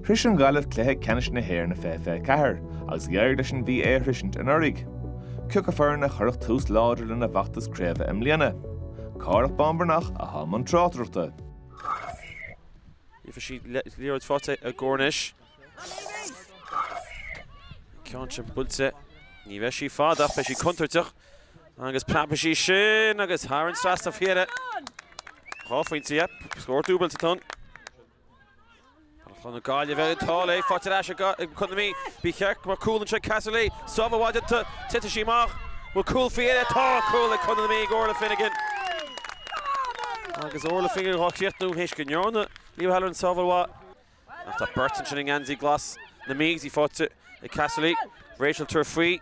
Shrois an Ghaillimh cluiche ceannais na hÉireann i 2024 agus d'éirigh leis an Mhí é a shroisint anuraidh. Cioca foireann a chuirfeadh tús láidir lena bhfeachtas craoibhe i mbliana? Cárthach Bán Breathnach atá i mbun tráchtaireachta. Gheobhaidh siad liathróid faighte i gcóir anois. Ceann sin buailte. Ní bheidh sí fada ach beidh sí contúirteach. Agus preabfaidh sí sin agus thar an trasnán féin. Dhá phointe, scór dúbailte atá ann. Chun na Gaillimhe ag tál é, faighte ar ais ag Contae na Mí, ba cheart go mbeadh cúl anseo Casserly, sábháil iontach, titfidh sí amach, bhfuil cúl faighte, tá cúl ag Contae na Mí ag Orla Finnegan. Agus Orla Finnegan dá chríochnú théis go ndearna Leah O'Halloran sábháil mhaith. Ach tá beirt ansin i ngeansaí glas na Mí, í faighte ag Casserly, Rachel tar faoi,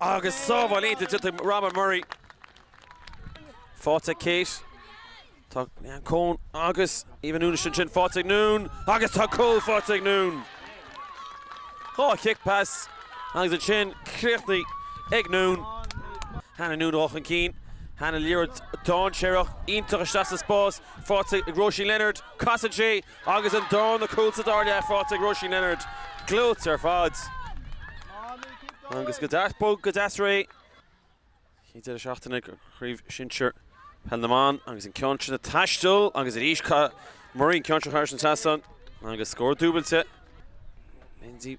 Agus sábháil iontach ag Robyn Murray. Faighte ag Kate. Tá Leanne Coen agus Eva Noone ansin. Faighte ag Noone agus tá cúl faighte ag Noone. Dhá chic pas agus ansin críochnaithe ag Noone. Hannah Noone ag dul chun cinn. Hannah Liathróid dainséarach iontach isteach sa spás. Faighte ag Róisín Leonard. Casann sí. Agus an darna cúl sa dara leath faighte ag Róisín Leonard, gleoite ar fad. Agus go deas bog, go deas réidh. Céad deireadh seachtaine ag Craobh Shinsir Peil na mBan agus an ceann sin ag taisteal agus arís caith Murray an ceann seo thar an trasnán agus scór dúbailte Lindsay